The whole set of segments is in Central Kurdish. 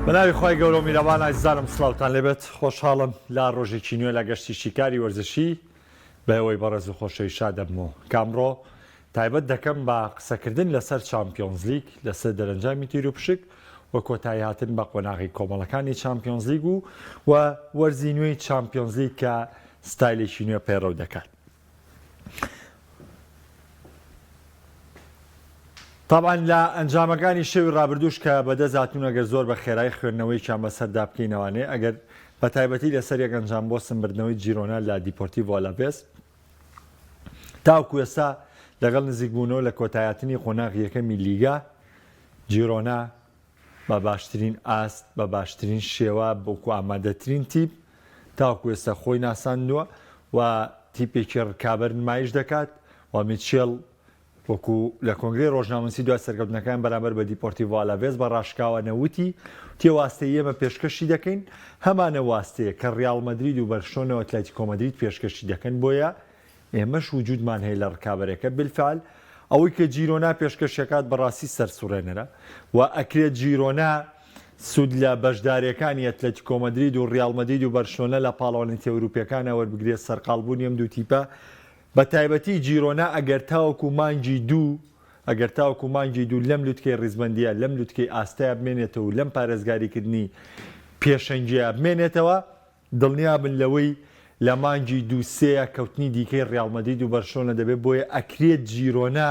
بە ناوی خوای گەورە و میرەبان ئازیزانم سڵاوتان لێبێت خۆشحاڵم لە ڕۆژێکی نوێ لە گەشتی شیکاری وەرزشی بەەوەی بەڕێز و خۆشەوی شا دەبمەوە کامڕۆ تایبەت دەکەم بە قسەکردن لەسەر چمپیۆنزلیک لەسەر دەرەنجامی تیر و پشک و کۆتایی هاتن بە قۆناغی کۆمەڵەکانی چمپیۆنزلیگ و و وەرزی نوێی چمپیۆنزلیگ کە ستایلێکی نوێ پەیڕەو دەکات. تابان لە ئەنجامەکانی شەوی ڕابردوش کە بەدەست هاتون ئەگەر زۆر بە خێرای خوێندنەوەیکیان بەسەردا بکەینەوانێ ئەگەر بە تایبەتی لەسەر یەک ئەنجام بۆ سمبردنەوەی جیرۆنا لە دیپۆرتی ڤۆلاڤێز تاوکو ئێستا لەگەڵ نزیکبوونەوە لە کۆتایاتنی قۆناغیەکەمی لیگا جیرۆنا بە باشترین ئاست، بە باشترین شێوە، بەکو ئامادەترین تیپ تاوەکو ئێستا خۆی ناساندووە و تیپێکی ڕکابەر نمایش دەکات و میچێڵ وەکو لە کۆنگرەی ڕۆژنامەنووسی دوای سەرکەوتنەکەیان بەرامبەر بە دیپۆرتیڤۆ ئالاڤێز بە ڕاشکاوانە وتی تێ واستەی ئێمە پێشکەشی دەکەین هەمانە واستەیە کە ڕیاڵ مەدرید و بەرشۆنە و ئەتلەتیکۆ مەدرید پێشکەشی دەکەن بۆیە ئێمەش وجودمان هەیە لە ڕکابەرەکە بالفعل ئەوەی کە جیرۆنا پێشکەشەکات بەڕاستی سەرسوڕێنەرە و ئەکرێت جیرۆنا سود لە بەشدارەکانی ئەتلەتیکۆ مەدرید و ڕیاڵ مەدید و بەرشلۆنە لە پاڵەوانێتی ئەوروپیەکانە وەربگرێت سەرقاڵبوونی ئەم دوو تیپە بە تایبەتی جیرۆنا ئەگەر تاوەکو مانگی دوو ئەگەر تاوەکو مانگی دوو لەم لوتکەی ڕیزبەندیە لەم لوتکەی ئاستەیە بمێنێتەوە و لەم پارێزگاریکردنی پێشەنگیە بمێنێتەوە دڵنیابن لەوەی لە مانگی دوو سێیا کەوتنی دیکەی ڕیاڵ مەدرید و بەرشلۆنە دەبێت، بۆیە ئەکرێت جیرۆنا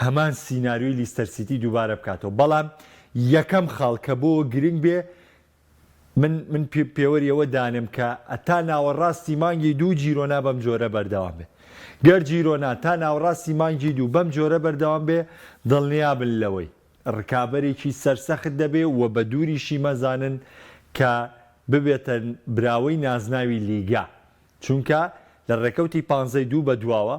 هەمان سیناریۆی لیستەر سیتی دووبارە بکاتەوە، بەڵام یەکەم خاڵ کە بۆ گرنگ بێ من من پێوەری ئەوە دانێم کە تا ناوەڕاستی مانگی دوو جیرۆنا بەم جۆرە بەردەوام بێ گەر جیرۆنا تا ناوەڕاستی مانگی دوو بەم جۆرە بەردەوام بێ دڵنیابن لەوەی ڕکابەرێکی سەرسەخت دەبێ و بە دووریشی مەزانن کە ببێتە براوەی نازناوی لیگا، چونکە لە ڕێکەوتی پانزەی دوو بە دواوە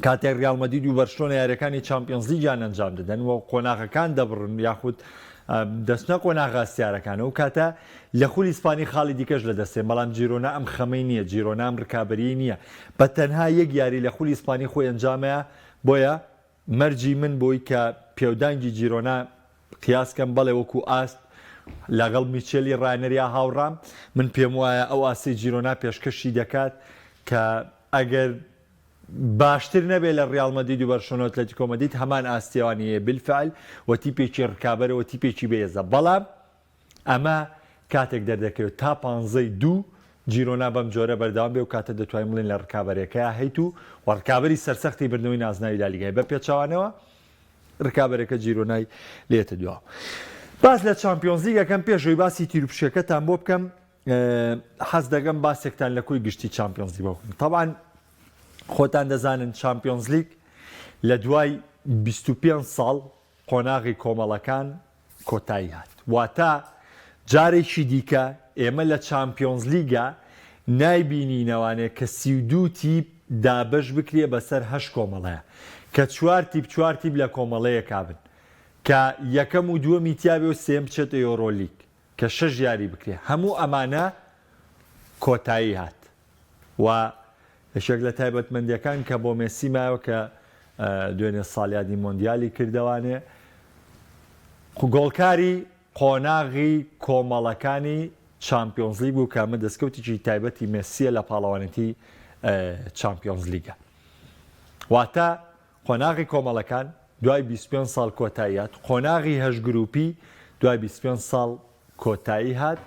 کاتێک ڕیاڵ مەدید و بەرشلۆنە یاریەکانی چامپیۆنزلیگیان ئەنجام دەدەن و قۆناغەکان دەبڕن یاخود دەچنە قۆناغە ئەستیارەکان و کاتە لە خولی ئیسپانی خاڵی دیکەش لە دەستێن بەڵام جیرۆنا ئەم خەمەی نییە جیرۆنا ئەم ڕکابەریی نییە بە تەنها یەک یاری لە خولی ئیسپانی خۆی ئەنجامەیە بۆیە مەرجی من بووی کە پێودانگی جیرۆنا قیاس کەم، بەڵێ وەکو ئاست لەگەڵ میچێلی ڕانەر یا هاوڕام، من پێموایە ئەو ئاستەی جیرۆنا پێشکەشی دەکات کە ئەگەر باشتر نەبێت لە ڕیاڵ مەدرید و بەرشۆلۆنە و ئەتلەتیکۆ مەدرید هەمان ئاستیان هەیە بالفعل و تیپێکی ڕکابەرە و تیپێکی بەهێزە بەڵام ئەمە کاتێک دەردەکەوێت تا پانزەی دوو جیرۆنا بەم جۆرە بەردەوام بێ و کاتە دەتوانین بڵێین لە رکابەرەکەیا هەیت و و رکابەری سەرسەختی بردنەوەی نازناوی لالیگای بە پێچەوانەوە رکابەرەکە جیرۆنای لێتە دواوە باس لە چمپیۆنزیگەکەم پێشەوەی باسی تیروپشەکەتان بۆ بکەم حەز دەگەم باسێکتان لە کۆی گشتی چمپیۆنزی بۆکم تاوان خۆتان دەزانن چمپیۆنزلیک لە دوای 25 ساڵ قۆناغی کۆمەڵەکان کۆتایی هات، واتە جارێکی دیکە ئێمە لە چامپیۆنزلیگا نایبینینەوانێ کە سی و دوو تیپ دابەش بکرێ بەسەر هەشت کۆمەڵەیە کە چوار تیپ چوار تیپ لە کۆمەڵەیەکا بن کە یەکەم و دووەمی تیابێ و سێیەم بچێتە یۆرۆلیگ کە شەش یاری بکرێ هەموو ئەمانە کۆتایی هات. و یەکێک لە تایبەتمەندیەکان کە بۆ مێسی مایەوە کە دوێنێ ساڵیادی مۆندیالی کردوانێ گۆڵکاری قۆناغی کۆمەڵەکانی چامپیۆنزلیگ بوو کە ئەمە دەستکەوتێکی تایبەتی مێسیە لە پاڵەوانێتی چامپیۆنزلیگە واتە قۆناغی کۆمەڵەکان، دوای بیست و پێنج ساڵ کۆتایی هات، قۆناغی هەشت گرووپی، دوای بیست و پێنج ساڵ کۆتایی هات،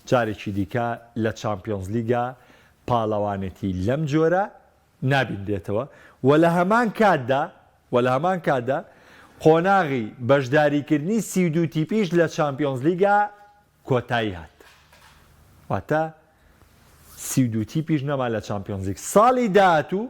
جارێکی دیکە لە چامپیۆنزلیگا پاڵەوانێتی لەم جۆرە نابینرێتەوە و لە هەمان کاتدا و لە هەمان کاتدا قۆناغی بەشداریکردنی سی و دوو تیپیش لە چامپیۆنزلیگا کۆتایی هات واتە سی و دوو تیپیش نەما لە چامپیۆنزلیگ ساڵی داهاتوو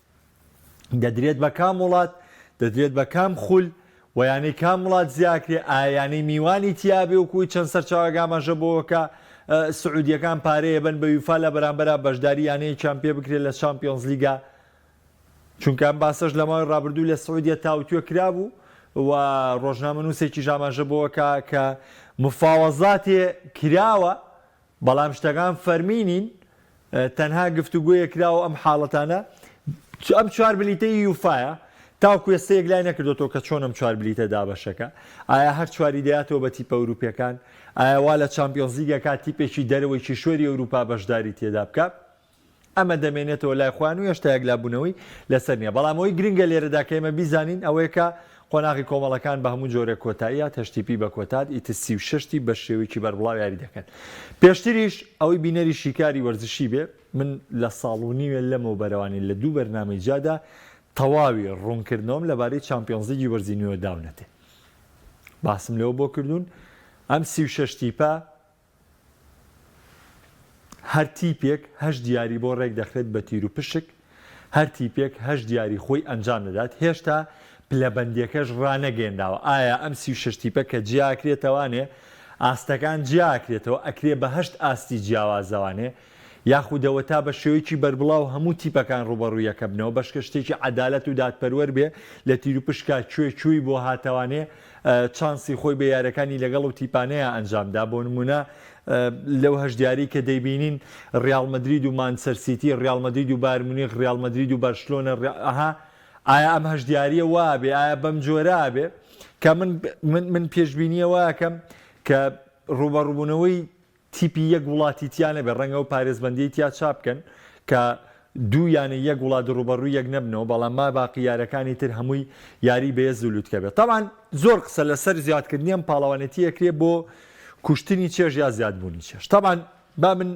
دەدرێت بە کام وڵات، دەدرێت بە کام خول، و یانەی کام وڵات زیاکرێ، ئایا یانەی میوانی تیابێ وەکوی چەند سەرچاوەک ئاماژە بەوەکا سعودییەکان پارەی ئەبەن بە یوفا لە بەرامبەرا بەشداری یانەیەکیان پێ بکرێت لە چامپیۆنزلیگا چونکە ئەم باسەش لە ماوەی ڕابردوو لە سعودیە تاوتوێ کرابوو و ڕۆژنامە نووسێکی ژاماژە بۆەکە کە مفاوەزاتێ کراوە بەڵام شتەکان فەرمی نین، تەنها گفتوگۆیەک کراوە ئەم حاڵەتانە ئەم چوار بلیتەی یوفایە تاوکو ئێستا یەکلای نەکردۆتەوە کە چۆن ئەم چوار بلیتە دابەشەکە ئایا هەر چواری دەیاتەوە بە تیپە ئەوروپیەکان ئایا وا لە چامپیۆنزیگەکە تیپێکی دەرەوەی کیشوەری ئەوروپا بەشداری تێدا بکە ئەمە دەمێنێتەوە لای خۆیان و هێشتا یەکلابوونەوەی لەسەر نییە. بەڵام ئەوەی گرنگە لێرەدا کە ئێمە بیزانین ئەوەیە کە قۆناغی کۆمەڵەکان بە هەموو جۆرێک کۆتاییات هەشتیپی بە کۆتات ئیت سی و شەش تی بە شێوەیەکی بەربڵاو یاری دەکەن پێشتریش ئەوەی بینەری شیکاری وەرزشی بێ من لە ساڵ و نیوێ لەمەو بەرەوانی لە دوو بەرنامەی جادا تەواوی ڕوونکردنەوەم لەبارەی چامپیۆنزیگی وەرزی نوێ داونەتێ باسم لەوە بۆ کردوون ئەم سی و شەش تیپە هەر تیپێک هەشت یاری بۆ رێک دەخرێت بە تیروپشک، هەر تیپێک هەشت یاری خۆی ئەنجام دەدات، هێشتا پلەبەندیەکەش رانەگەیەنراوە، ئایا ئەم سی و شەش تیپە کە جیاکرێتەوانێ ئاستەکان جیاکرێتەوە ئەکرێ بە هەشت ئاستی جیاوازەوانێ یاخودەوە تا بە شێوەیەکی بەربڵاو هەموو تیپەکان ڕووبەڕووی یەکە بنەوە، بەشکە شتێکی عەدالەت و دادپەروەر بێ لە تیروپشکا کوێ کوێی بۆ هاتەوانێ چانسی خۆی بە یارەکانی لەگەڵ ئەو تیپانەیا ئەنجام دا بۆ نموونە لەو هەشت یاریەی کە دەیبینین ڕیاڵ مەدرید و مانچسەر سیتی ڕیاڵ مەدرید و بایرن مونیخ ڕیاڵ مەدرید و بەرشلۆنە ئەها ئایا ئەم هەشت یاریە وا ئەبێ ئایا بەم جۆرە ئەبێ کە من من من پێشبینیە وا ئەکەم کە ڕووبەڕووبوونەوەی تیپی یەک وڵاتی تیا نەبێت، ڕەنگە ئەو پارێزبەندیەی تیا چا بکەن کە دوو یانەی یەک وڵات ڕووبەڕووی یەک نەبنەوە، بەڵام ماباقی یارەکانی تر هەمووی یاری بەێز و لوتکە بێت. تەبعەن زۆر قسە لەسەر زیادکردنی ئەم پاڵەوانێتی ئەکرێت بۆ کوشتنی چێژ یا زیادبوونی چێژ. تەبعەن با من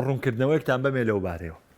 ڕوونکردنەوەیەکتان بەمێ لەو بارەیەوە.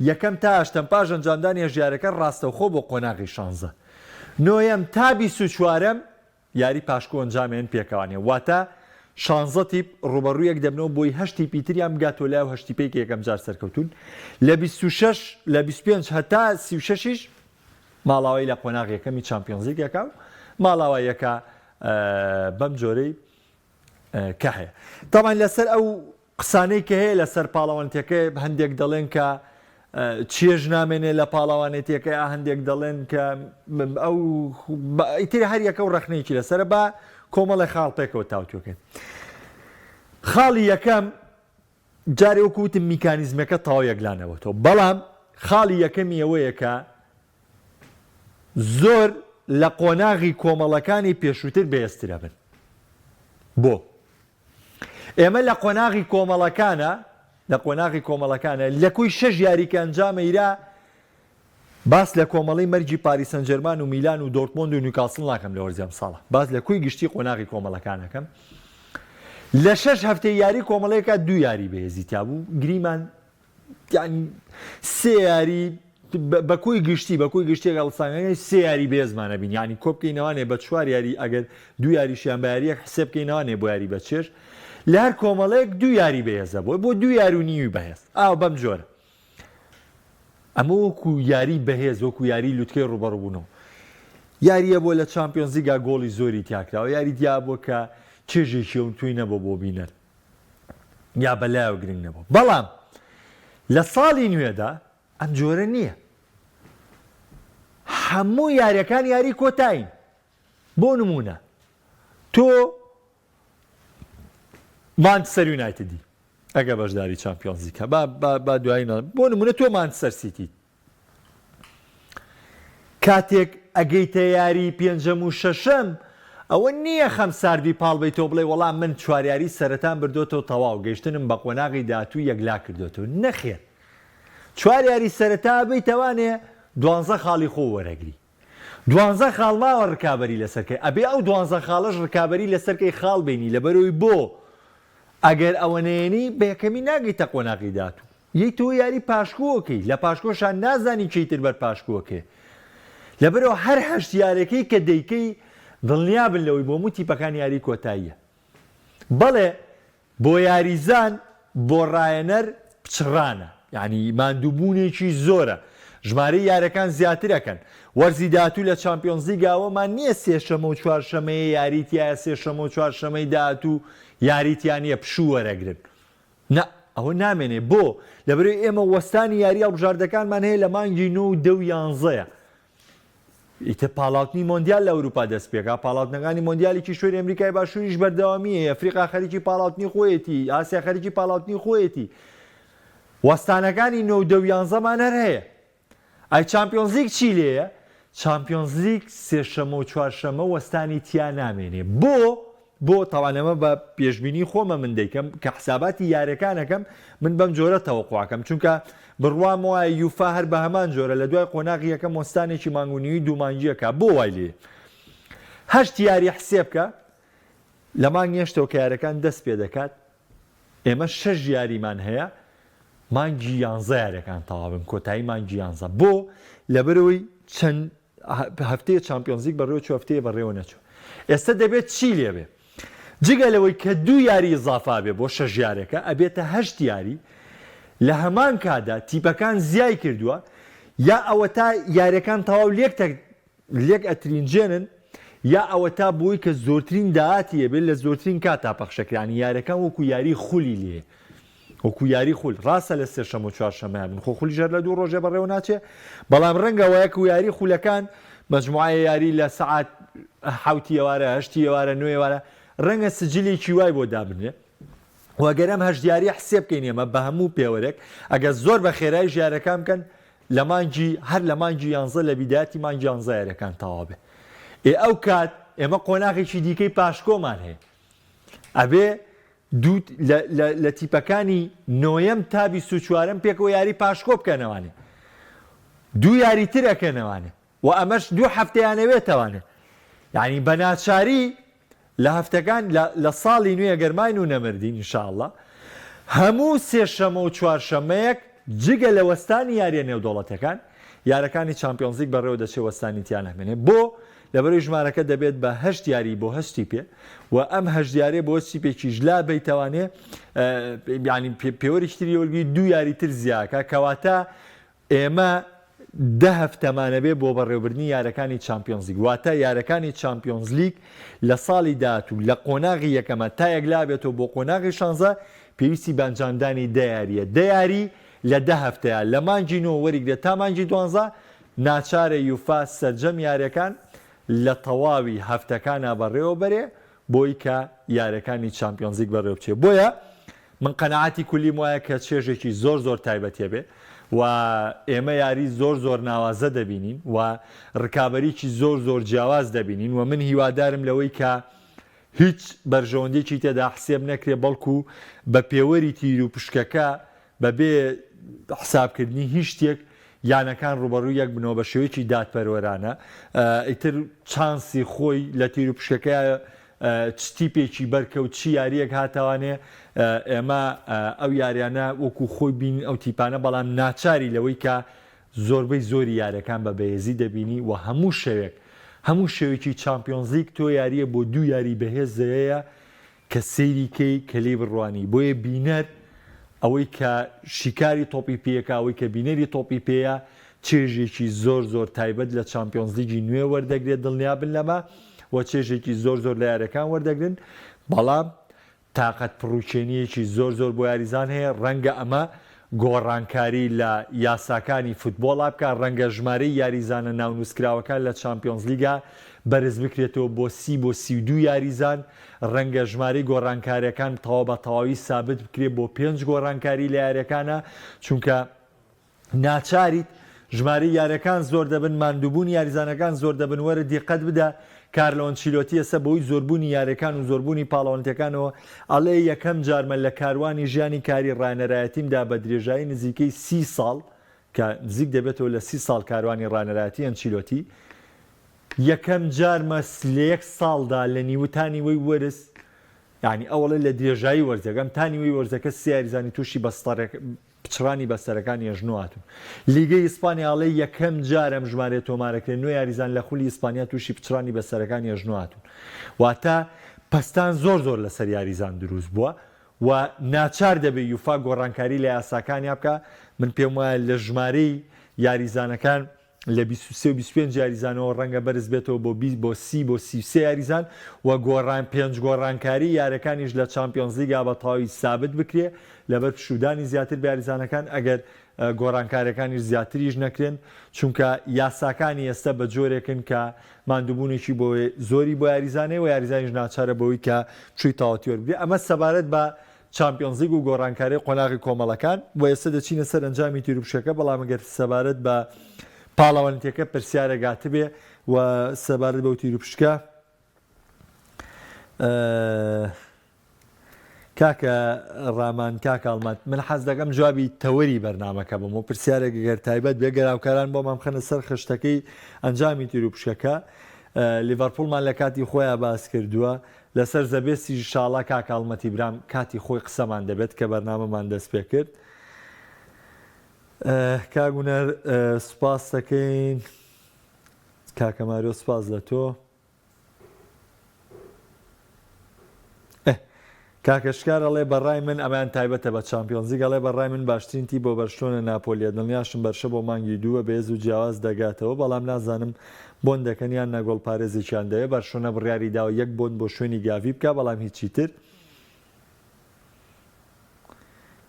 یەکەم تا هەشتەم پاش ئەنجامدانی هەژیارەکە ڕاستەوخۆ بۆ قۆناغی شانزە نۆیەم تا بیست و چوارەم یاری پاشکۆ ئەنجامێن پێکەوانێ واتە شانزە تیپ ڕوبەڕوو یەک دەبنەوە بۆی هەشت تیپی تریان بگاتەوە لای و هەشت تیپەی کە یەکەم جار سەرکەوتوون لە بیست و شەش لە بیست و پێنج هەتا سی و شەشیش ماڵاوای لە قۆناغ یەکەمی چامپیۆنزیک یەکا و ماڵاوا یەکا بەم جۆرەی کە هەیە تامان لەسەر ئەو قسانەی کە هەیە لە سەر پاڵەوانتیەکەی ە هەندێک دەڵێن کە چێژ نامێنێ لە پاڵەوانێتیەکەی ە هەندێک دەڵێن کە ئەو ئیتر هەر یەکە و ڕەخنەیەکی لە سەرە با کۆمەڵی خاڵ پێکەوە تاوتوێکەن خاڵی یەکەم جارێ وەکو وتم میکانیزمەکە تاو یەکلانەوە تۆ بەڵام خاڵی یەکەمی ئەوەیە کە زۆر لە قۆناغی کۆمەڵەکانی پێشووتر بەێسترە بن بۆ ئێمە لە قۆناغی کۆمەڵەکانە لە قۆناغی کۆمەڵەکانە لە کوی شەش یاری کە ئەنجامەیرا باس لە کۆمەڵی مەرگی پاریسەنجەرمان و میلان و دۆرتمۆند و نیوکاسل ناکەم لە وەرزی ئەمساڵە باس لە کوی گشتی قۆناغی کۆمەڵەکانەکەم لە شەش هەفتەی یاری کۆمەڵەیەکە دوو یاری بەهێزی تابوو گریمان یانی سێ یاری بە کۆی گشتی بە کۆی گشتێک هەڵسانگەی سێ یاری بێزمانە بین یانی کۆبکەینەوانێ بە چوار یاری ئەگەر دو یاریشیان بە یاریەک حسێ بکەینەوانێ بۆ یاری بە چێش لە هەر کۆمەڵەیەک دو یاری بەهێزە بۆی بۆ دو یار و نیوی بەهێز ئاو بەم جۆرە ئەمە وەکو یاری بەهێز وەکو یاری لوتکەی ڕوبەڕبوونەوە یاریە بۆ لە چمپیۆنزیگا گۆڵی زۆری تیاکراوە یاری دیابووە کە چێژێکیەوە توی نەبە بۆ بینەر یا بە لایەوە گرنگ نەبوو بەڵام لە ساڵی نوێدا ئەم جۆرە نییە هەموو یاریەکان یاری کۆتاین بۆ نمونە تۆ مانچسەر یونایتدی ئەگە بەشداری چمپیۆنزیکە با دوایینە بۆ نمونە تۆ مانچسەر سیتی کاتێک ئەگەیتە یاری پێنجەم و شەشەم ئەوە نییە خەم ساردی پاڵ بیتەوە بڵێ وەڵا من چواریاری سەرەتان بردۆتەوە تەواو گەشتنم بە قۆناغی داهاتوو یەکلا کردۆتەوە نەخێر چوار یاری سەرەتا بی تەوانێ دوانزە خاڵی خۆ وەرەگری دوانزە خاڵ ماوە ڕکابی لەسەرکەی ئەبێ ئەو دوانزە خاڵش ڕکابی لەسەرکەی خاڵ بینی لەبەرەوەی بۆ ئەگەر ئەوە نێنی بەکەمی ناگەیتە قۆناغی داهاتوو یەی تۆ یاری پاشکۆ ئەکەی لە پاشکۆشا نازانی چی تر بەر پاشکۆ ئەکرێ لەبەرئەوە هەر هەشت یارەکەی کە دەیکەی دڵنیابن لەوەی بۆ هەموو تیپەکان یاری کۆتاییە بەڵێ بۆ یاریزان بۆ ڕایەنەر پچڕانە یانی ماندووبوونێکی زۆرە ژمارەی یارەکان زیاتر ئەکەن وەرزی داهاتوو لە چامپیۆنزلیگا ئەوەمان نییە سێشەمە و چوارشەمەیە یاری تایە سێشەمە و چوارشەمەی داهاتوو یاری تیا نییە پشوو وەرەگرن نا، ئەوە نامێنێ، بۆ؟ لەبەرەوەی ئێمە وەستانی یاریی هەڵبژاردەکانمان هەیە لە مانگی نۆ و دە و یانزەیە. ئیتر پاڵاوتنی مۆندیال لە ئەوروپا دەستپێکا، پاڵاوتنەکانی مۆندیالی کیشوەری ئەمریکای باشووریش بەردەوامیی هەیە، ئەفریقا خەریکی پاڵاوتنی خۆیەتی، ئاسیا خەریکی پاڵاوتنی خۆیەتی. وەستانەکانی نۆ و دە و یانزەمان هەر هەیە. ئای چامپیۆنزلیگ چی لێیە؟ چامپیۆنزلیگ سێشەمە و چوارشەمە وەستانی تیا نامێنێ بۆ؟ بۆ تاوان ئەمە بە پێشبینی خۆمە من دەیکەم کە حساباتی یارەکانەکەم من بەم جۆرە تەوەقواکەم چونکە بڕوام وایە یوفا هەر بە هەمان جۆرە لە دوای قۆناغ یەکەم وەستانێکی مانگونیوی دوومانگیەکە بۆ وای لێ هەشت یاری حسێبکە لە مانگێشتەوە کارەکان دەست پێ دەکات ئێمە شەش یاریمان هەیە مانگی یانزە یاریەکان تەوابن کۆتایی مانگی یانزە بۆ لەبەرەوەی چەند هەفتەیە چمپیۆنزیک بەڕێوە چ هەفتەیە بەڕێوە نەچوو ئێستا دەبێت چی لێبێ جگە لەوەی کە دوو یاری زافا بێ بۆ شەش یارەکە ئەبێتە هەشت یاری لە هەمان کادا تیپەکان زیای کردووە یا ئەوە تا یاریەکان تەواو لێک لێک ئەترینجێنن یا ئەوەتا بۆی کە زۆرترین داهاتی هەبێت لە زۆرترین کاتا پەخشەکرانی یارەکان وەکو یاری خولی لێ وەکو یاری خول ڕاستە لە سێشەم و چوارشەمە من خۆ خولی ژەر لە دوو ڕۆژێ بەڕێوە ناچێ بەڵام ڕەنگە وایە و یاری خولەکان مەجموعە یاری لە سعات حوتی ئێوارە هەشتی ئێوارە نوێوارە ڕەنگە سجلێکی وای بۆ دابنێ وەگەرم هەشدیاری حسێ بکەین ئێمە بە هەموو پێوەرێک ئەگە زۆر بە خێرای ژارەکان بکەن لە مانگی هەر لە مانگی یانزە لە بیدایەتی مانگی یانزە یاریەکان تەوا بێ ئێ ئەو کات ئێمە قۆناغێکی دیکەی پاشکۆمان هەیە ئەبێ دوو لە تیپەکانی نۆیەم تا بیست و چوارم پێکەوە یاری پاشکۆ بکەنەوانێ دوو یاری تر ئەکەنەوانێ وە ئەمەش دوو هەفتەی ئەنەوێت توانێت یانی بە ناچاری لە هەفتەکان لە ساڵی نوێ گەر ماین و نەمردین ان شاء اللە هەموو سێ شەمە و چوار شەمەیەک جگە لە وەستانی یاریە نێودەوڵەتەکان یارەکانی چمپیۆنزیک بەڕێوە دەچێت وەستانی تیان ئەمێنێ بۆ لەبەرەی ژمارەکە دەبێت بە هەشت یاری بۆ هەشتی پێ و ئەم هەژدیارێ بۆ سیپێکیش لا بیتوانێ ینی پێوەری شتری وەرگی دو یاری تر زیاکە کەواتە ئێمە دە هەفتەمانەبێ بۆ بەڕێوەبردنی یارەکانی چامپیۆنزلیگ، واتە یارەکانی چامپیۆنزلیگ لە ساڵی داهاتوو لە قۆناغی یەکەمە تا یەکلابێتەوە بۆ قۆناغی شانزە، پێویستی بە ئەنجامدانی دە یارییە، دە یاری لە دە هەفتەیە، لە مانگی نۆ وەریگرە تا مانگی دوانزە، ناچارە یوفا سەرجەم یارییەکان لە تەواوی هەفتەکانا بەڕێوەبەرێ بۆی کە یارەکانی چامپیۆنزلیگ بەڕێوبچێ بۆیە من قەناعەتی کولیم وایە کە چێژێکی زۆر زۆر تایبەتیە بێ و ئێمە یاری زۆر زۆر ناوازە دەبینین و ڕکابەریی زۆر زۆر جیاواز دەبینین و من هیوادارم لەوەی کە هیچ بەرژەوەندێکی تێدا حسێب نەکرێ بەڵکو بە پێوەری تیر و پشکەکە بەبێ حسابکردنی هیچ شتێک یانەکان ڕووبەڕووی یەک بنەوە بە شێوەیەکی دادپەروەرانە ئیتر چانسی خۆی لە تیروپشکەکەیە چ تیپێکی بەرکە و چی یاریەک هاتوانێ ئێمە ئەو یاریانە وەکو خۆی بین ئەو تیپانە بەڵام ناچاری لەوەی کە زۆربەی زۆری یارەکان بە بەێزی دەبینی و هەموو شەوێک هەموو شەوێکی چمپیۆنزیک تۆ یاریە بۆ دوو یاری بەهێزەیە کە سەیری کەی کە لێی بڕوانی بۆیە بینەر ئەوەی کە شیکاری تۆپی پێیەکە ئەوەی کە بینەری تۆپی پێیە چێژێکی زۆر زۆر تایبەت لە چامپیۆنزلیگی نوێ وەردەگرێت دڵنیابن لەمە و چێژێکی زۆر زۆر لە یاریەکان وەردەگرن بەڵام تااقەت پڕوکێنیەکی زۆر زۆر بۆ یاریزان هەیە ڕەنگە ئەمە گۆڕانکاری لە یاساکانی فوتبۆڵا بکات، رەنگە ژمارەی یاریزانە ناونووسکراوەکان لە چامپیۆنزلیگا بەرزبکرێتەوە بۆ سی بۆ سی و دوو یاریزان، رەنگە ژمارەی گۆڕانکارییەکان تەواو بە تەواوی سابت بکرێت بۆ پێنج گۆڕانکاری لە یارییەکانا، چونکە ناچاریت ژمارەی یارەکان زۆر دەبن ماندوبونی یاریزانەکان زۆر دەبن وەرە دیقەت بدە کارلۆ ئەنچیلۆتی ئێستا بەهۆی زۆربونی یارەکان و زۆربونی پاڵەوەنتەکانەوە ئەڵێ یەکەم جارمە لە کاروانی ژیانی کاری ڕانەرایەتیمدا بە درێژایی نزیکەی سی ساڵ کە نزیک دەبێتەوە لە سی ساڵ کاروانی ڕانەرایەتی ئەنچیلۆتی یەکەم جارمە لە یەک ساڵدا لە نیوە تا نیوەی وەرز یانی ئەوڵێ لە درێژایی وەرزەکەم تا نیوەی وەرزەکە سێ یاریزانی توشی بەستەڕێک پچڕانی بەستەرەکانی ئەژنۆ هاتوون. لیگەی ئیسپانیا ئەڵێ یەکەم جارە ئەم ژمارەیە تۆمارەکرێ، نۆ یاریزان لە خولی ئیسپانیا تووشی پچڕانی بەستەرەکانی ئەژنۆ هاتوون. واتە پەستان زۆر زۆر لەسەر یاریزان دروست بووە و ناچار دەبێ یوفا گۆڕانکاری لە یاساکانیا بکا، من پێم وایە لە ژمارەی یاریزانەکان، لە بیست و سێ و بیست و پێنج یاریزانەوە رەنگە بەرزبێتەوە بۆ بیست بۆ سی بۆ سی و سێ یاریزان و گۆڕان پێنج گۆڕانکاری یارەکانیش لە چامپیۆنزلیگا بە تەواوی سابت بکرێ لەبەر پشوودانی زیاتر بە یاریزانەکان ئەگەر گۆڕانکارەکانیش زیاتریش نەکرێن چونکە یاساکانی ئێستا بە جۆرێکن کە ماندووبوونێکی بۆ زۆری بۆ یاریزانەیە و یاریزانیش ناچارە بەوەی کە پشووی تاوەتی وەربگرێ ئەمە سەبارەت بە چامپیۆنزلیگ و گۆڕانکاری قۆناغی کۆمەڵەکان و ئێستا دەچینە سەر ئەنجامی تیروپشکەکە، بەڵام ئەگەر سەبارەت بە پاڵەوانێتیەکە پرسیارێک هاتبێ و سەبارەت بەو تیروپشکە کاکە ڕامان کاکە ئەڵمەت من حەز دەکەم جوابی تەوەری بەرنمەکە بم و پرسیارێک گەر تایبەت بێ گەراوکاران بۆ مامخەنە سەر خشتەکەی ئەنجامی تیر و پشکەکە لیڤەرپوڵمان لە کاتی خۆیان باس کردووە لەسەر زەبێستی ژشاڵا کاک ئاڵمەتی برام کاتی خۆی قسەمان دەبێت کە بەرنامەمان دەست پێ کرد کاک هونەر سوپاس دەکەین کاکە ماریۆ سوپاس لە تۆ کاکەشکارەڵێ بەڕای من ئەمان تایبەتە بە چمپیۆنزی گەڵێ بەڕای من باشترینتی بۆ بەرشتۆنە ناپۆلیە دڵنیاشم بەرشە بۆ مانگی دووە بێز و جیاواز دەگاتەوە بەڵام نازانم بۆن دەکەن یان نا گۆڵپارێزێکیان دەوێت، بەرشلۆنە بڕیاری داوە یەک بۆن بۆ شوێنی گاڤی بکات، بەڵام هیچی تر.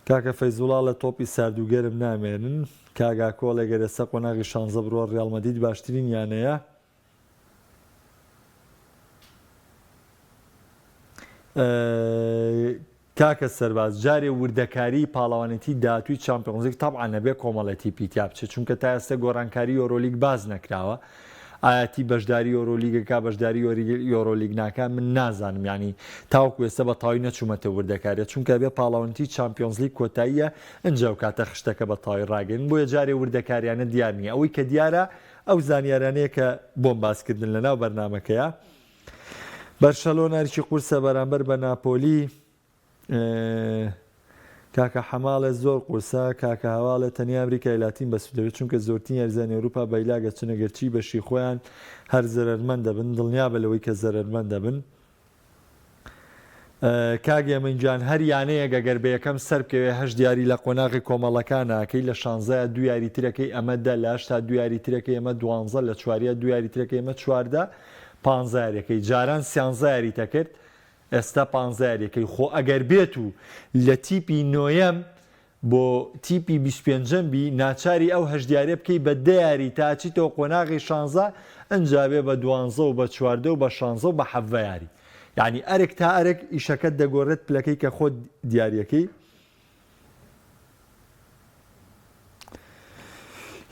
کاکە فەیزوڵا ڵە تۆپی سارد و گەرم نامێنن کاک ئاکۆ ڵێ گەر ئێستا قۆناغی شانزە بڕوا ڕیاڵ مەدید باشترین یانەیە کاکە سەرباز جارێ وردەکاریی پاڵەوانێتیی داهاتووی چامپیۆنزلیگ تەبعا نەبێ کۆمەڵە تیپی تیا بچێ چونکە تا ئێستە گۆڕانکاریی یۆرۆلیگ باس نەکراوە ئایا تیپ بەشداری یۆرۆلیگ ئەکا بەشداری یۆرۆلیگ ناکا من نازانم یانی تاوەکو ئێستە بە تەواوی نەچوومەتە وردەکاریە چونکە ئەبێ پاڵەوانێتیی چامپیۆنزلیگ کۆتاییە ئنجا و کاتە خشتەکە بە تەواوی ڕاگەیەنن بۆیە جارێ وردەکارییانە دیار نییە ئەوەی کە دیارە ئەو زانیاریانەیە کە بۆم باس کردن لەناو بەرنامەکەیا بەرشەلۆنە ئەرکی قورسە بەرامبەر بە ناپۆلی کاکە حەماڵێ زۆر قورسە کاکە هەواڵێ تەنیا ئەمریکای لاتین بەسودەوێت چونکە زۆرترین یارزانی ئەوروپا بەیلاگە چنە گەرچی بەشی خۆیان هەر زەرەرمەند دەبن دڵنیا بە لەوەی کە زەرەرمەند دەبن کاک هێمن گیان هەر یانەیەک ئەگەر بە یەکەم سەربکەوێ هەشت یاری لە قۆناغی کۆمەڵەکان ناکەی لە شانزەیا دوو یاری ترەکەی ئەمە دە لە هەشتا دوو یاری ترەکەی ئەمە دوانزە لە چواریا دوو یاری ترەکەی ئەمە چواردە پانزە یاریەکەی جاران سیانزە یاریت ئەکرد ئێستا پانزە یاریەکەی خۆ ئەگەر بێت و لە تیپی نۆیەم بۆ تیپی بیست و پێنجەم بی ناچاری ئەو هەشت یاریە بکەی بە دە یاری تا ئەچیتەوە قۆناغی شانزە ئنجا بێ بە دوانزە و بە چواردە و بە شانزە و بە حەڤە یاری یانی ئەرک تا ئەرک ئیشەکەت دەگۆرێت پلەکەی کە خۆت دیاریەکەی.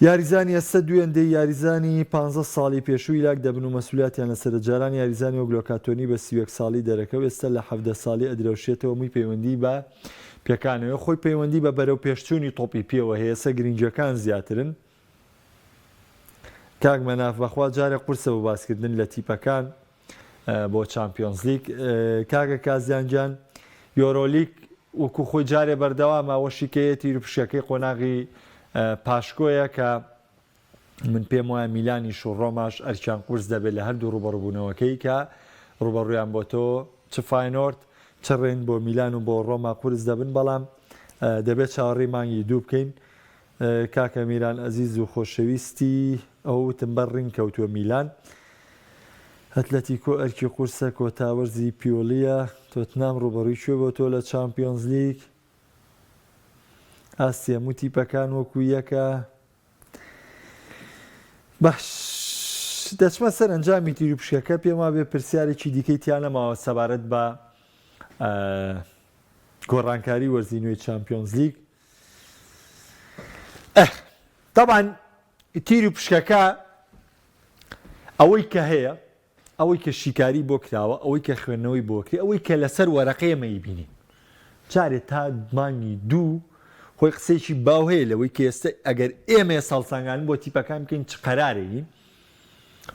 یاریزانی ئەستە دوێندەی یاریزانی پانزە ساڵی پێشووی یلاک دەبن و مەسولیاتیان لەسەرە جاران یاریزانی وەک لۆکاتۆنی بە سی و یەک ساڵی دەرەکە و ئێستا لە حەڤدە ساڵی ئەدرەوشێتەوە مووی پەیوەندی بە پێکانەوەی خۆی پەیوەندی بە بەرەو پێشچوونی تۆپی پێوە هەیەسە گرینگەکان زیاترن کاک مەناف بەخوا جارێ قورسە بۆ باسکردن لە تیپەکان. بۆ چامپیۆنزلیگ کاکە کازیان جان یۆرۆلیگ وەکو خۆی جارێ بەردەوامە وەشی کەیە تیر و پشەکەی قۆناغی پاشکۆیە کە من پێم وایە میلانیش و ڕۆماش ئەرکیان قورس دەبێت لە هەردوو ڕوبەڕبوونەوەکەی کە ڕوبەڕویان بۆ تۆ چ فینۆرد چ ڕێن بۆ میلان و بۆ ڕۆما قورس دەبن بەڵام دەبێت چاوەڕی مانگی دوو بکەین کاکە میران ئەزیز و خۆشەویستی ئەوتم بەر ڕینگ کەوتووە میلان ئەتلەتیکۆ ئەرکی قورسە کۆتا وەرزی پیۆلیە تۆتنام ڕوبەڕوی کوێ بۆ تۆ لە چامپیۆنز لیگ ئاستی هەموو تیپەکان وەکو یەکە باش دەچمە سەر ئەنجامی تیر و پشکەکە پێم وابێ پرسیارێکی دیکەی تیانەماوە سەبارەت بە گۆڕانکاری وەرزی نوێی چمپیۆنز لیگ ئه تابان تیر و پشکەکە ئەوەی کە هەیە ئەوەی کە شیکاری بۆ کراوە ئەوەی کە خوێندنەوەی بۆکری ئەوەی کە لەسەر وەرەقەیەمەی بینی جارێ تا مانگی دوو خۆی قسێکی باو هەیە لەوەی کە ئێستا ئەگەر ئێمە ساڵسانگان بۆ تیپەکان بکەین چ قەرارێنین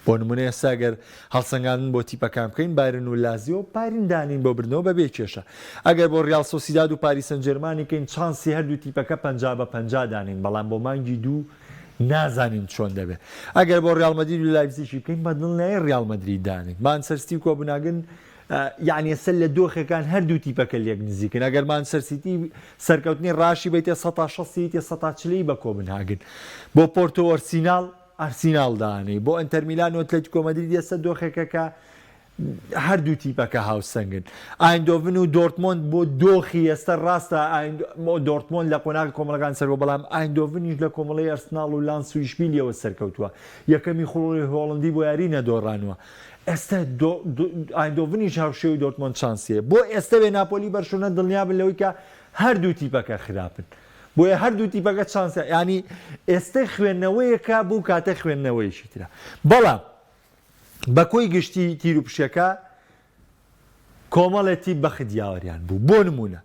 بۆ نمونە ئێستا گەر هەڵسەنگاندن بۆ تیپەکان بکەین بایرن و لازیۆ بارین دانین بۆ بردنەوە بە بێ کێشە ئەگەر بۆ ریاڵ سۆسیداد و پاریسەنجێرمانی کەین چانسی هەردوو تیپەکە پەنجا بە پەنجا دانین بەڵام بۆ مانگی دوو نازانین چۆن دەبێ ئەگەر بۆ ریاڵ مەدرید و لایپزیشی بکەین بە دڵنیایی ریاڵ مەدرید دانین مانچستەر سیتی و کۆبناگن یعنی ئێستا لە دۆخەکان هەردوو تیپەکە لێک نزیکن ئەگەر مانچستەر سیتی سەرکەوتنی راشی بێتێ سەتا شەستی تێ سەتا چلەی بە کۆبنهاگن بۆ پۆرتۆ ئۆرسیناڵ ئارسیناڵ دانێی بۆ ئەنتەرمیلان و ئەتلەتیکۆ مەدرید ئێستا دۆخێکە کە هەردوو تیپەکە هاوسەنگن ئایندۆڤن و دۆرتمۆند بۆ دۆخی ئێستا ڕاستە دۆرتمۆن لە قۆناغی کۆمەڵگان سەرەوە بەڵام ئایندۆڤنیش لە کۆمەڵی ئەرسناڵ و لانس و ئیشبیلیەوە سەرکەوتووە یەکەمی خوڵی هۆڵندی بۆ یاری نەدۆڕانوە ئێستا ئایندۆڤنیش هاوشێوی دۆرتمۆند چانسیە بۆ ئێستەێ ناپۆلی بەرشونە دڵنیابن لەوەی کە هەردوو تیپەکە خراپن. بۆیە هەردوو تیپەکە چانسە یانی ئێستەی خوێندنەوەیەکە بۆ کاتە خوێندنەوەیشی ترە بەڵام بە کۆی گشتی تیر و پشەکە کۆمەڵێ تیپ بەخت یاوەریان بوو بۆ نمونە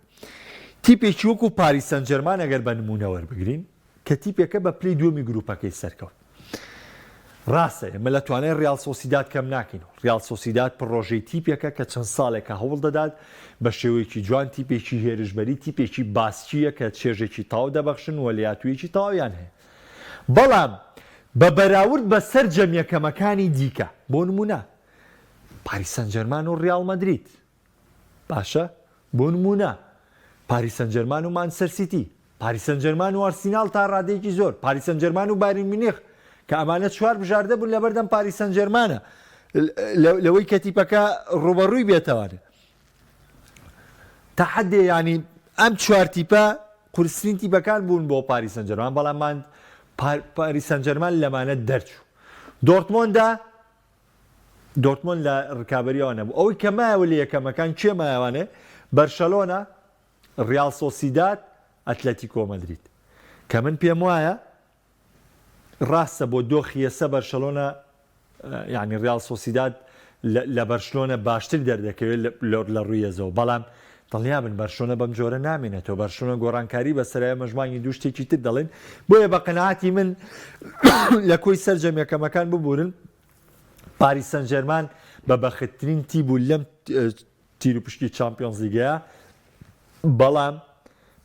تیپێکی وەکو پاریسەن جەرمان ئەگەر بە نمونەوەەر بگرین کە تیپێکە بە پلی دووەمی گروپەکەی سەرکەوت ڕاستە ئێمە لە توانای ڕیال سۆسیداد کەم ناکەین و ڕیال سۆسیداد پڕۆژەی تیپێکە کە چەند ساڵێکە هەوڵ دەدات بە شێوەیەکی جوان تیپێکی هێرشبەری تیپێکی باسکیە کە چێژێکی تاو دەبەخشن و لەاتوویەکی تاویان هەیە بەڵام بە بەراورد بە سەر جەمیەکەمەکانی دیکە بۆ نمونە پاریسان جەرمان و ڕیال مەدریت باشە بۆ نموونە پاریس سەنجەرمان و مانچستەر سیتی، پاریس سەنجەرمان و ئارسیناڵ تا ڕادەیەکی زۆر، پاریس سەنجەرمان و بایرن میونخ کە ئەمانە چوار بژاردە بوون لەبەردەم پاریس سەنجەرمانە لەوەی کە تیپەکە ڕووبەڕووی بێتەوە. تا حەدێ ینی ئەم چوار تیپە قورسرین تیپەکان بوون بۆ پاریس سەنجەرمان بەڵام من پاریس سەنجەرمان لەمانە دەرچوو. دۆرتمۆندا دۆرتمۆند لە ڕکابەری ئەوان نەبوو ئەوەی کە مایەوە لە یەکەمەکان کێ مایەوانێ بەرشەلۆنە ڕیال سۆسیداد ئەتلەتیکۆ مەدرید کە من پێم وایە ڕاستە بۆ دۆخیەسە بەرشەلۆنە یعنی ڕیال سۆسیداد لە بەرشلۆنە باشتر دەردەکەوێت لە ڕوویەزەوە بەڵام دڵنیابن بەرشلۆنە بەم جۆرە نامێنێتەوە، بەرشلۆنە گۆڕانکاری بەسەرایە مەش مانگی دوو شتێکی تر دەڵێن، بۆیە بە قەناعەتی من لە کۆی سەرجەم یەکەمەکان ببورن، پاریس سەنجێرمان بە بەختترین تیپ بوو لەم تیروپشکی چامپیۆنزلیگەیە، بەڵام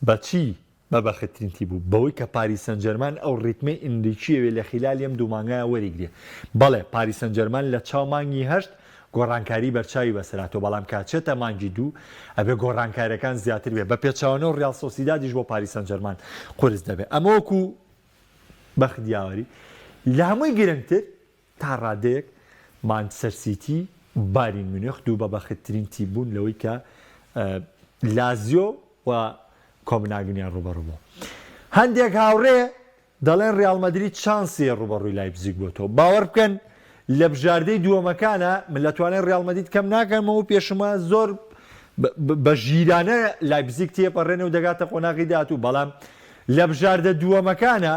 بەچی؟ بە بەختترین تیپ بوو بەوەی کە پاریس سەنجەرمان ئەو ریتمەی ئینریکیی وێ لە خیلالی ئەم دوو مانگایە وەریگرێ. بەڵێ پاریس سەنجەرمان لە چاو مانگی هەشت گۆڕانکاریی بەرچاوی بەسەر هاتووە بەڵام کە چێتە مانگی دوو ئەبێ گۆڕانکارییەکان زیاتر بێ بە پێچەوانەوە ریال سۆسیدادیش بۆ پاریس سەنجەرمان قورس دەبێ ئەمە وەکوو بەخت یاوەری لە هەمووی گرنگتر تا ڕادەیەک مانچستەر سیتی و بایرن میونخ دوو بەبەختترین تیم بوون لەوەی کە لازیۆ و کۆبناگنیان ڕووبەڕوو بوو. هەندێک هاوڕێ دەڵێن ڕیاڵ مەدرید شانسی هەیە ڕووبەڕووی لایپزیگ بۆتەوە. باوەڕ بکەن لە بژاردەی دووەمەکانا من لە توانای ڕیاڵ مەدید کەم ناکەمەوە و پێشم وایە زۆر بە ژیرانە لایپزیگ تێپەڕێنێ و دەگاتە قۆناغی داهاتوو، بەڵام لە بژاردە دووەمەکانا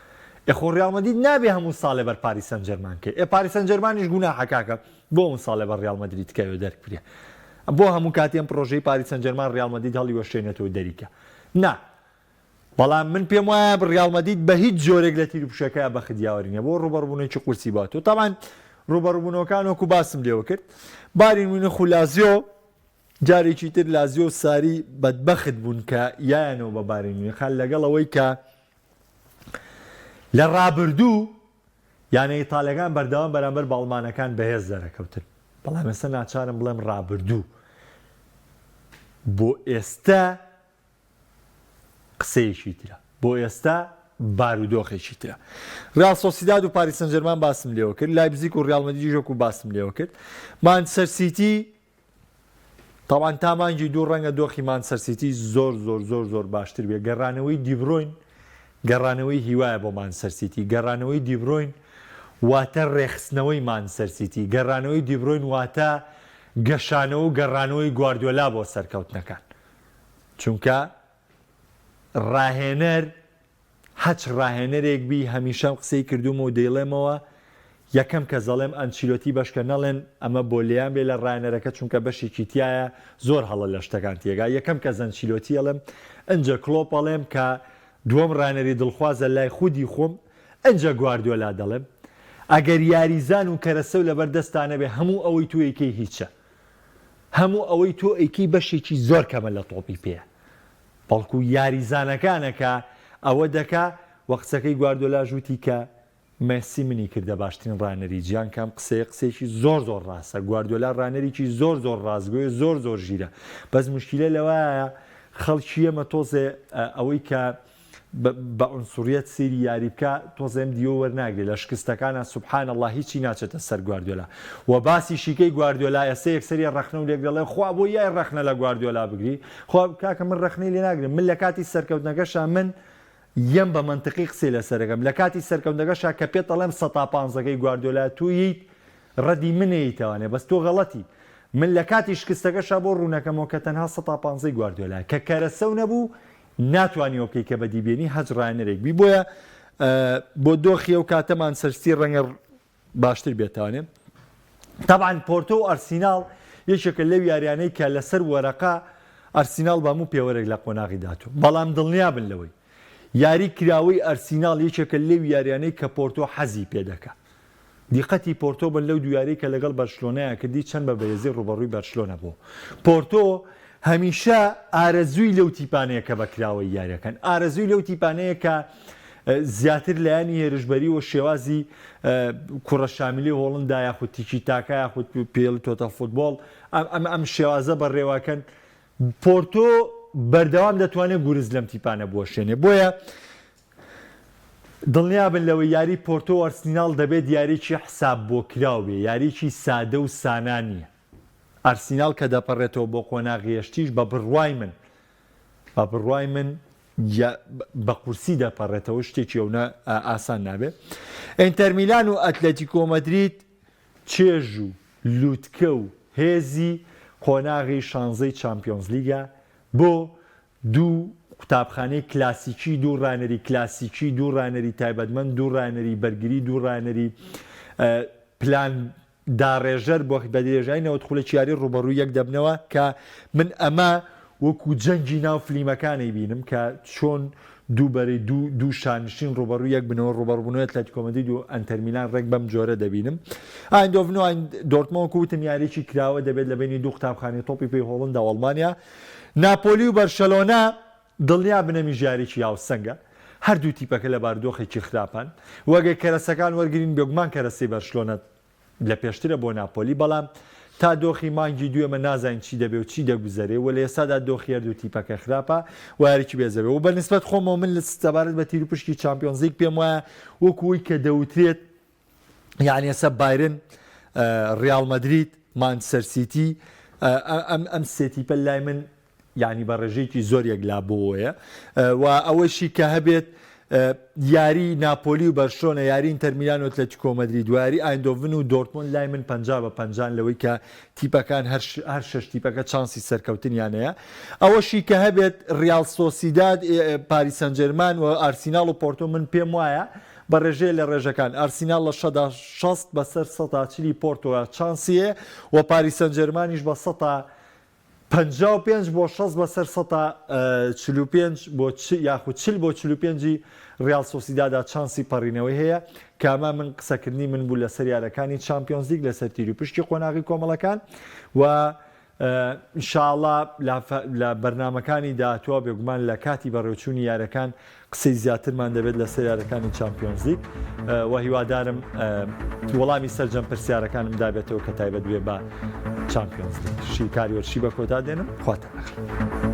ئێ خۆ ڕیاڵ مەدید نابێ هەموو ساڵێ بەر پاریس سەنجێرمان کەی ئێ پاریس سەنجێرمانیش گوناحە کاکە بۆ ئەم ساڵێ بەر ڕیاڵ مەدرید کەوێ دەرکرێ بۆ هەموو کاتی ئەم پرۆژەی پاریس سەنجێرمان ڕیاڵ مەدید هەڵی وەشێنێتەوە دەریکە نا بەڵام من پێم وایە ڕیاڵ مەدید بە هیچ جۆرێک لە تیروپشەکە بە خدیاوەرینە بۆ ڕوبەڕبوونێکی قورسی بات و تاوان ڕوبەڕبوونەوەکان وەکو باسم لێوە کرد بارین وینە خولازیۆ جارێکی تر لازیۆ ساری بەدبەخت بوون کە یانەوە بە بارین وینەخان لەگەڵ ئەوەی کە لە رابردوو یانە ئیتاڵیەکان بەردەوام بەرامبەر بە ئەڵمانەکان بەهێز دەرەکەوتن، بەڵام ئێستا ناچارم بڵێم رابردوو بۆ ئێستا قسەیەکی ترە، بۆ ئێستا بارودۆخێکی ترە ریال سۆسیداد و پاریسەنجەرمان باسم لێوە کرد لایبزیک و ریالمەدیژۆک و باسم لێوە کرد مانچەر سیتی تەبعەن تا مانگی دوو ڕەنگە دۆخی مانچستەر سیتی زۆر زۆر زۆر زۆر باشتر بێت، گەڕانەوەی دیبرۆین گەڕانەوەی هیوایە بۆ مانچستەر سیتی، گەڕانەوەی دیبرۆین واتە ڕێکخستنەوەی مانچستەر سیتی، گەڕانەوەی دیبرۆین واتە گەشانەوە و گەڕانەوەی گواردیۆلا بۆ سەرکەوتنەکان، چونکە ڕاهێنەر هەچ راهێنەرێک بی هەمیشەم قسەی کردوومە و دەیڵێمەوە یەکەم کەس دەڵێم ئەنچیلۆتی بەشکە نەڵێن ئەمە بۆ لیان بێ لە رانەرەکە چونکە بەشێکی تیایە زۆر هەڵە لە شتەکان تێگا یەکەم کەس ئەنچیلۆتی ئەڵێم ئنجە کڵۆپ ئەڵێم کە دووەم رانەری دڵخوازە لای خودی خۆم ئنجە گواردیۆلا دەڵێم ئەگەر یاریزان و کەرەسەو لەبەر دەستا نەبێ هەموو ئەوەی تۆ ئەیکەی هیچە هەموو ئەوەی تۆ ئەیکەی بەشێکی زۆر کەمە لە تۆپی پێ بەڵکو یاریزانەکانە کە ئەوە دەکا وە قسەکەی گواردۆلاش وتی کە مێسی منی کردە باشترین ڕانەری جیان کە ئەم قسەیە قسەیەکی زۆر زۆر ڕاستە گواردۆلا ڕانەریکی زۆر زۆر ڕاستگۆیە زۆر زۆر ژیرە بەس موشکیلە لەوەیە خەڵکی ئێمە تۆزێ ئەوەی کە بە عنصریەت سەیری یاری بکە تۆزێ ئەم دیوە وەرناگرێ لە شکستەکانا سبحان اللە هیچی ناچێتە سەر گواردیۆلا وە باسیشی کەی گواردیۆلا ئێسە یەکسەریە رەخنەو لێک دەڵێ خوا بۆ یای رەخنە لە گواردیۆلا بگری خۆ کاکە من رەخنەی لێ ناگرم من لە کاتی سەرکەوتنەکەشا من یەم بە مەنتقی قسەی لەسەرەکەم لە کاتی سەرکەوتنەکەشا کە پێت ئەڵێم سەتا پانزە کەی گواردیۆلا تۆ یت رەدی من ئەیتەوانێ بەس تۆ غەڵەتی من لە کاتی شکستەکەشا بۆ روونەکەمەوە کە تەنها سەتا پانزەی گواردیۆلا کە کەرەسەو نەبوو ناتوانی ئەوکەی کە بەدی بێنی هەچ ڕانەرێک بی بۆیە بۆ دۆخی ئەو کاتەمان سەرستی ڕەنگە باشتر بێتانێ تاعاان پۆرتۆ و ئەرسیناڵ یەکێکە لەو یاریانەی کە لەسەر وەرەقا ئەرسیناڵ بەموو پێوەرێک لە قۆناغی داتوە بەڵام دڵنیا بن لەوەی یاری کراوەی ئەرسیناڵ یەکێکە لەو یاریانەی کە پۆرتۆ حەزی پێ دەکە دیقەتی پۆرتۆ بن لەو دوو یاریەی کە لەگەڵ بەرشلۆنەیان کردی چەند بە بەرێزی ڕووبەڕووی بەرشلۆنە بوو پۆرتۆ هەمیشە ئارەزووی لەو تیپانەیە کە بە کراوەی یاریەکەن ئارەزووی لەو تیپانەیە کە زیاتر لایەنی هێرشبەری و شێوازی کوڕە شامیلی هۆڵندا یاخود تیکی تاکە یاخود پێڵ تۆتەل فوتبۆڵ ئەم ئەم شێوازە بەڕێواکەن پۆرتۆ بەردەوام دەتوانێت گورز لەم تیپانە بوەشێنێ بۆیە دڵنیابن لەوەی یاری پۆرتۆ و ئەرسیناڵ دەبێت یاریکی حساب بۆ کراو بێ یاریکی سادە و سانا نیە ئەرسیناڵ کە دەپەرێتەوە بۆ قۆناغی یەشتیش بە بڕوای من بە بڕوای من بە قورسی دەپەڕێتەوە شتێکی ئەونە ئاسان نابێ ئینتەرمیلان و ئەتلەتی کۆمەدریت چێژ و لووتکە و هێزی قۆناغی شانزەی چمپیۆنز لیگە بۆ دوو قوتابخانەی کلاسیکی، دوو ڕانەری کلاسیکی، دوو ڕانەری تایبەتمەند، دوو ڕانەری بەرگری، دوو ڕانەری پلان داڕێژەر بە درێژایی نەوەد خولەکی یاری ڕووبەڕووی یەک دەبنەوە کە من ئەمە وەکو جەنگی ناو فلیمەکان ئەیبینم کە چۆن دوو بەرەی دوو دوو شانشین ڕووبەڕووی یەک بنەوە ڕووبەڕووبوونەوەی ئەتلەتیکۆ مەدرید و ئەنتەر میلان ڕێک بەم جۆرە دەبینم ئایندۆڤن و دۆرتمۆن وەکو وتم یاریی کراوە دەبێت لە بینی دوو قوتابخانەی تۆپی پێی هۆڵندا و ئەڵمانیا ناپۆلی و بەرشەلۆنە دڵنیابن ئەمیش یارییەکی هاوسەنگە، هەردوو تیپەکە لە باردۆخێکی خراپان و ئەگەر کەرەسەکان وەرگرین بێگومان کەرەسەی بەرشلۆنە لە پێشترە بۆ ناپۆلی، بەڵام تا دۆخی مانگی دوو ئێمە نازانین چی دەبێ و چی دەگوزەرێ و لە ئێستادا دۆخی هەردوو تیپەکە خراپە و یاریی بێزەبێ و بەنسبەت خۆمەوە من سەبارەت بە تیروپشکی چامپیۆنزلیگ پێموایە وەکو ئەوەی کە دەوترێت یانەسە بایرن ریال مەدرید مانچستەر سیتی ئەم ئەم سێتیپە لای من ینی بە ڕێژەیەکی زۆر یەکلا بۆیە و ئەوەشی کە هەبێت یاری ناپۆلی و بەرشۆنە یارین تەرمیرانۆت لە تکۆمەدری دواری ئایندۆڤن و دۆرتمۆن لای من پ بە پ لەوەی کە تیپەکان هەر شش تیپەکە چانسی سەرکەوتنیانەیە ئەوەشی کە هەبێت ریال سۆسیداد پاریسەنجەرمان و ئارسیناڵ و پۆرتۆ من پێم وایە بە رێژەیە لە رێژەکان ئارسیناڵ لە شەدا شەست بەسەر سەتا چلی پۆرتۆدا چانسی هەیە و پاریس سەنجێرمانیش بە سەتا پەنجا و پێنج بۆ شەست بەسەر سەتا چل و پێنج بۆ یاخود چل بۆ چل و پێنجی ریال سۆسیدادا چانسی پەڕینەوەی هەیە کە ئەمە من قسەکردنی من بوو لەسەر یارەکانی چامپیۆنزلیگ لەسەر تیروپشکی قۆناغی کۆمەڵەکان و ان شاء اللە لە بەرنامەکانی داهاتووا بێگومان لە کاتی بەڕێوچوونی یاریەکان قسەی زیاترمان دەبێت لەسەر یاریەکانی چامپیۆنزلیک و هیوادارم وەڵامی سەرجەم پرسیارەکانم دابێتەوە کە تایبەت بێ بە چامپیۆنزلیک شیکاری وەرشی بە کۆتا دێنم خواتە نەخ.